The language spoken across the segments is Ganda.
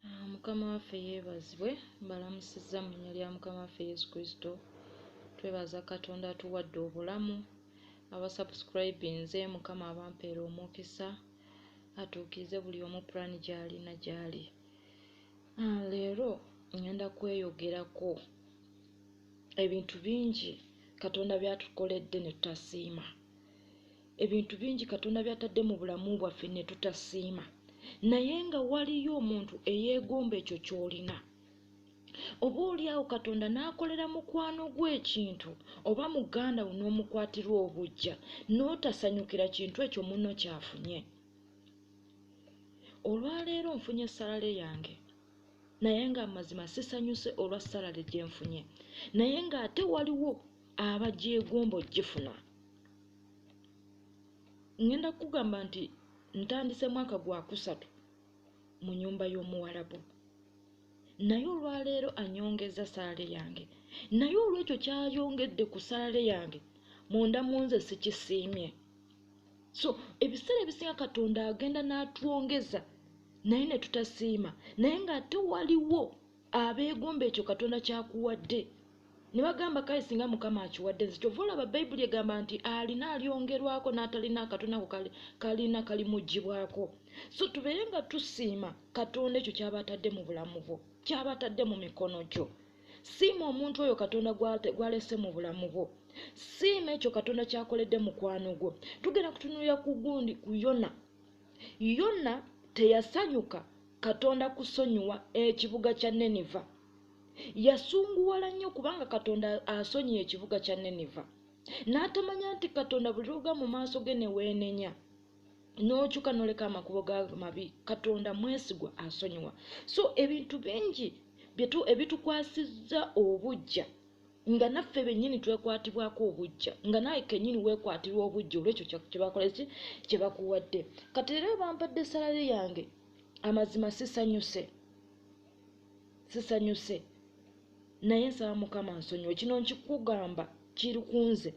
Ah, mukama waffe yeebazibwe mbalamusizza mu nnya lya mukama waffe yesu kristo twebaza katonda atuwadde obulamu abasubscribinze mukama abampeera omukisa atuukirize buli omu pulaani gy'alina gy'ali ah, leero ngenda kweyogerako ebintu bingi katonda byatukoledde ne tutasiima ebintu bingi katonda byatadde mu bulamu bwaffe ne tutasiima naye nga waliyo omuntu eyeegomba ekyo ky'olina oba oli awo katonda n'akolera mukwano gw'ekintu oba muganda wo n'omukwatirwa obujja n'otasanyukira kintu ekyo muno kyafunye olwaleero nfunye salale yange naye ng'amazima sisanyuse olwa salale gye nfunye naye ng'ate waliwo abagyegomba ogifuna ngenda kugamba nti ntandise mwaka gwa kusatu mu nyumba y'omuwalabu naye olwaleero anyongeza saale yange naye olwekyo kyayongedde ku saale yange munda mu nze sikisiimye so ebiseera ebisinga katonda agenda n'atwongeza naye ne tutasiima naye ng'ate waliwo abeegomba ekyo katonda kyakuwadde ne bagamba kale singa mukama akiwadde nze kyova olaba bayibuli egamba nti alina alyongerwako n'atalina akatona ako kalina kalimugibwako so tubeere nga tusiima katonda ekyo kyaba atadde mu bulamu bwo kyaba atadde mu mikono gyo siima omuntu oyo katonda gwalese mu bulamu bwo siima ekyo katonda kyakoledde mukwano gwo tugenda kutunulira ku gundi ku yona yona teyasanyuka katonda kusonyiwa ekibuga kya neniva yasunguwala nnyo kubanga katonda asonyiye ekibuga kya neniva n'atamanya nti katonda buli lwoga mu maaso ge neweenenya n'okyuka noleka amakubo ga mabi katonda mwesigwa asonyiwa so ebintu bingi byetu ebitukwasizza obujja nga naffe bennyini twekwatibwako obujja nga naye kennyini weekwatirwa obujja olwekyo kyebakoleki kyebakuwadde kati era bampadde salale yange amazima sisanyuse sisanyuse naye nsaba mukama nsonyiwe kino nkikugamba kiri kunze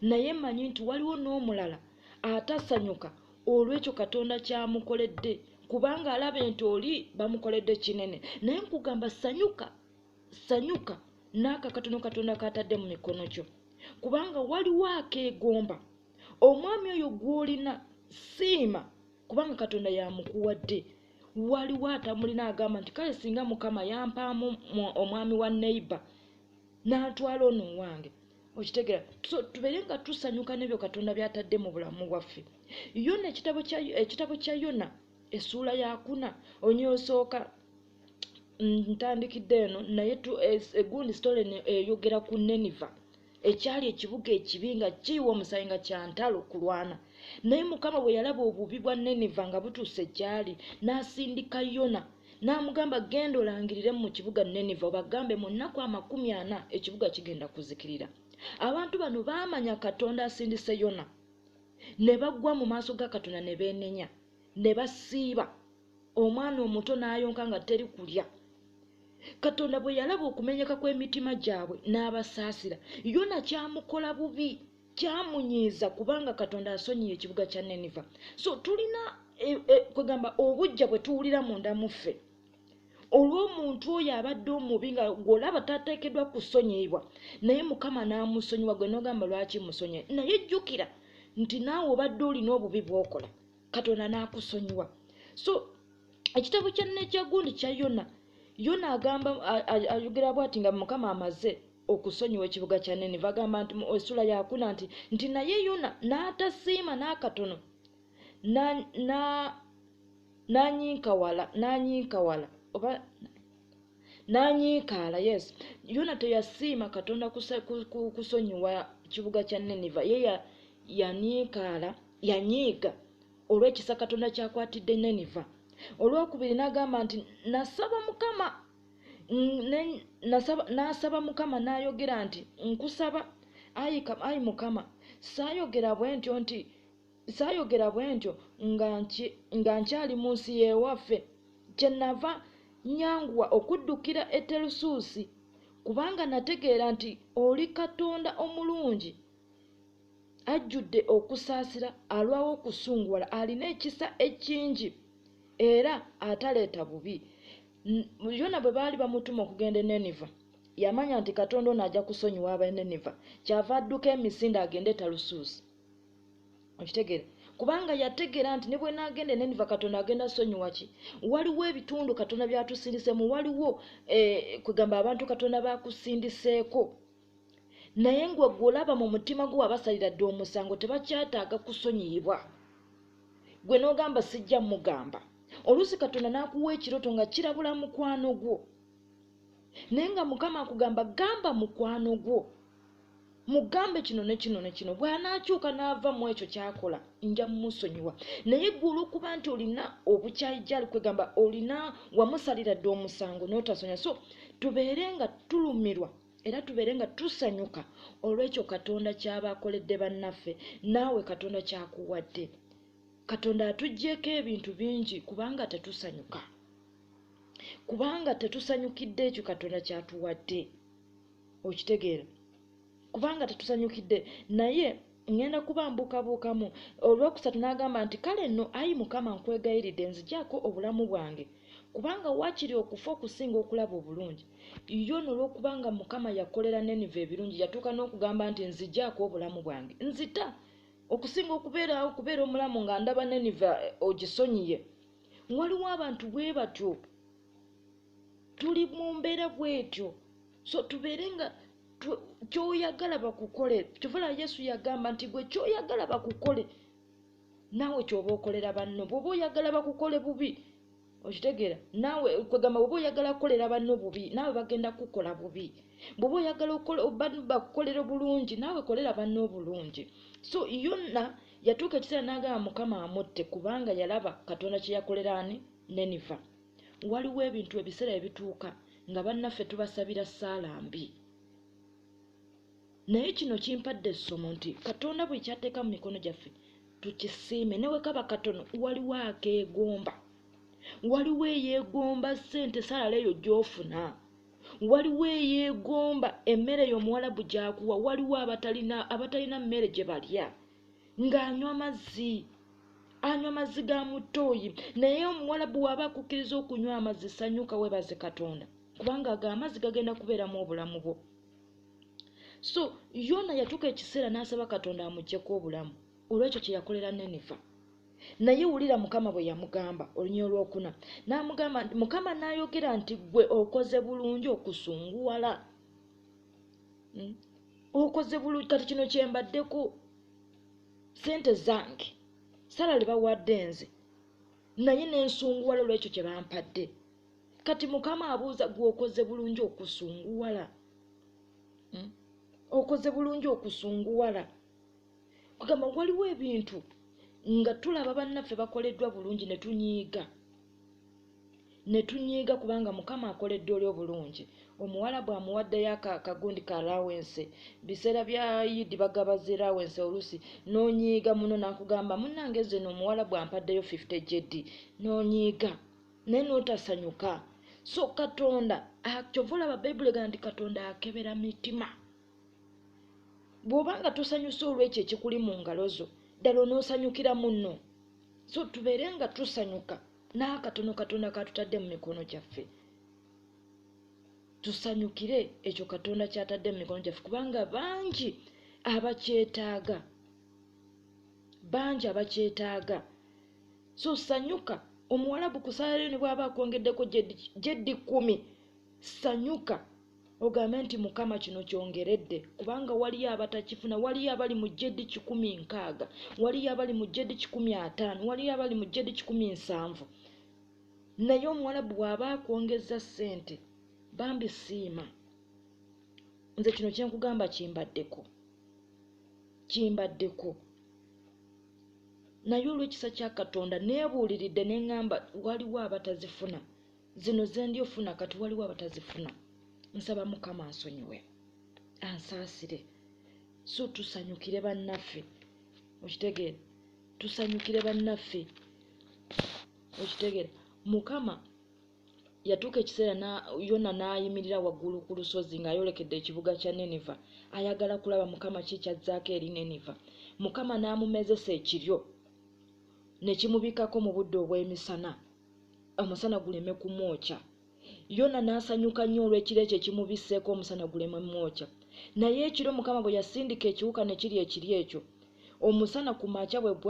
naye manyi nti waliwo n'omulala atasanyuka olwekyo katonda kyamukoledde kubanga alaba nti oli bamukoledde kinene naye nkugamba sanyuka sanyuka n'akakatono katonda katadde mu mikono kyo kubanga waliwo akeegomba omwami oyo gw'olina siima kubanga katonda yamukuwadde waliwo atamulina agamba nti kale singa mukama yampaamu omwami wa neighbor n'atwala ono owange okitegera so tubeere nga tusanyuka n'ebyo katonda by'atadde mu bulamu bwaffe yona ekitabo kya yona essuula yakuna onyosooka ntandikidde eno naye egundi eh, story eyogera ku neniva ekyali ekibuga ekibi nga kiyiwa omusayi nga kyantalo kulwana naye mukama bwe yalaba obubi bwa neniva nga butuuse ekyali n'asindika yona n'amugamba genda olangirire mu kibuga neniva obagambe mu nnaku amakumi ana ekibuga kigenda kuzikirira abantu bano baamanya katonda asindise yona ne bagwa mu maaso ga katonda ne beenenya ne basiiba omwana omuto n'ayonka nga teri kulya katonda bwe yalaba okumenyeka kw'emitima gyabwe n'abasaasira yona kyamukola bubi kyamunyiiza kubanga katonda asonyiye ekibuga kya neniva so tulina e, e, kwegamba obujja bwe tuwulira munda muffe olw'omuntu oyo abadde omubi nga gwolaba tateekeddwa kusonyiyibwa naye mukama n'amusonyiwa gwe n'ogamba lwaki musonyiye naye jjukira nti naawe obadde olina obubi bwokola katonda n'akusonyiwa so ekitabo kya nekyagundi kya yona yona agamba ayogera bwati nga mukama amaze okusonyiwa ekibuga kya niniva agamba nti mu esula yakuna nti nti naye yona n'atasiima n'akatono nanyinkawala nanyinkawala oba nanyiikaala yes yona teyasiima katonda kusonyiwa kibuga kya niniva ye yanyiikaala ya yanyiiga olw'ekisa katonda kyakwatidde neniva olwokubiri n'agamba nti nasaba mukama n'asaba mukama n'ayogera nti nkusaba ayi mukama saayogera bwe ntyo nti saayogera bwe ntyo nga nkyali mu nsi y'ewaffe kyenava nyanguwa okuddukira eterusuusi kubanga nategeera nti oli katonda omulungi ajjudde okusaasira alwawo okusunguwala alina ekisa ekingi era ataleeta bubi yona bwe baali bamutuma okugenda eneniva yamanya nti katonda ono ajja kusonyiwa abeneniva kyava adduka emisinde agende talusuusi okitegeera kubanga yategeera nti ne bwenagenda eneniva katonda agenda sonyiwa ki waliwo ebitundu katonda byatusindiseemu waliwo eh, kwegamba abantu katonda bakusindiseeko naye ngwe gwe olaba mu mutima gwo wabasalira dda omusango tebakyataaga kusonyiyibwa gwe n'ogamba sijja mugamba oluusi katonda n'akuwa ekiroto nga kirabula mukwano gwo naye nga mukama akugamba gamba mukwano gwo mugambe kino ne kino ne kino bw'anaakyuka n'ava mu ekyo kyakola nja mumusonyiwa naye gwe olw'okuba nti olina obukyayi gyali kwegamba olina wamusalira dda omusango n'otasonya so tubeere nga tulumirwa Era tubeere nga tusanyuka olw'ekyo Katonda ky'aba akoledde bannaffe, naawe Katonda ky'akuwadde. Katonda atuggyeeko ebintu bingi kubanga tetusanyuka, kubanga tetusanyukidde ekyo Katonda ky'atuwadde. Okitegeera? Kubanga tetusanyukidde naye. ŋŋenda kubambuukabuukamu. Olwokusatu n'agamba nti, Kale nno, ayi Mukama, nkwegayiridde, nzigyako obulamu bwange, kubanga waakiri okufa okusinga okulaba obulungi. Yona olw'okubanga Mukama yakolera Neniva ebirungi, yatuuka n'okugamba nti, Nzigyako obulamu bwange. Nzita! Okusinga okubeerawo okubeera omulamu nga ndaba Neniva eh, ogisonyiye. Waliwo abantu bwe batyo. Tuli mu mbeera bw'etyo. So tubeere nga kyoyagala bakukole kyovala yesu yagamba nti gwe kyoyagala bakukole naawe kyoba okolera banno bwoba oyagala bakukole bubi okitegeera naawe kwegamba bwoba oyagala kukolera banno bubi naawe bagenda kukukola bubi bwoba oyagala bakukolera obulungi naawe kolera banno obulungi so yonna yatuuka ekiseera n'agamba mukama amutte kubanga yalaba katonda kyeyakolera ani neniva waliwo ebintu ebiseera ebituuka nga bannaffe tubasabira ssaala mbi naye kino kimpadde essomo nti katonda buli kyateeka mu mikono gyaffe tukisiime ne bwe kaba katono waliwo akeegomba waliwo eyeegomba ssente salala eyo gy'ofuna waliwo eyeegomba emmere eyo omuwalabu gyakuwa waliwo abatalina abatalina mmere gye balya ng'anywa amazzi anywa mazzi ga muttooyi naye omuwalabu waaba akukkiriza okunywa amazzi sanyuka webaze katonda kubanga ago amazzi gagenda kubeeramu obulamu bwo so yona yatuuka ekiseera n'asaba katonda amugyeko obulamu olwekyo kye yakolera neniva naye wulira mukama bwe yamugamba olunya olwokuna n'amugamba mukama n'ayogera nti gwe okoze bulungi okusunguwala hmm? okoze bulungi kati kino kyembaddeko sente zange sala libawadde nze naye nensunguwala olwekyo kyebampadde kati mukama abuuza gweokoze bulungi okusunguwala hmm? okoze bulungi okusunguwala kugamba waliwo ebintu nga tulaba bannaffe bakoleddwa bulungi ne tunyiiga ne tunyiiga kubanga mukama akoledde oli obulungi omuwalabu amuwaddeyo akagundi ka lawense biseera bya yidi bagaba zi lawense oluusi nonyiiga muno nakugamba munange zeno omuwalabu ampaddeyo 50 jd nonyiiga naye notasanyuka so katonda kyova olaba bayibuli egana nti katonda akebera mitima bwobanga tosanyuse olwekyo ekikuli mu ngalo zo ddala onosanyukira munno so tubeere nga tusanyuka n'akatono katonda katutadde mu mikono gyaffe tusanyukire ekyo katonda kyatadde mu mikono gyaffe kubanga bangi abakyetaaga bangi abakyetaaga so sanyuka omuwalabu kusalayo ne bwaba akwongeddeko gyeddi kumi sanyuka Ogambe nti, Mukama, kino kyongeredde, kubanga waliyo abatakifuna, waliyo abali mu JD kikumi nkaaga, waliyo abali mu JD kikumi ataano, waliyo abali mu JD kikumi nsanvu. Naye omuwalabu bw'aba akwongezza ssente, bambi siima. Nze kino kye nkugamba kimbaddeko, kimbaddeko. Naye olw'ekisa kya Katonda neebuuliridde ne ŋŋamba waliwo abatazifuna. zino zendi ofuna kati waliwo abatazifuna nsaba mukama ansonyiwe ansaasire so tusanyukire bannaffe okitegeera tusanyukire bannaffe okitegeera mukama yatuuka ekiseera yona n'ayimirira waggulu ku lusozi ng'ayolekedde ekibuga kya neniva ayagala kulaba mukama ki kyazzaako eri neniva mukama n'amumezesa ekiryo ne kimubikako mu budde obw'emisana omusana guleme kumwokya yona n'asanyuka nnyo olw'ekiro ekyo ekimubisseeko omusana guleme mwokya naye ekiro mukama bwe yasindika ekiwuka ne kiri ekiri ekyo omusana ku makya bwe gwa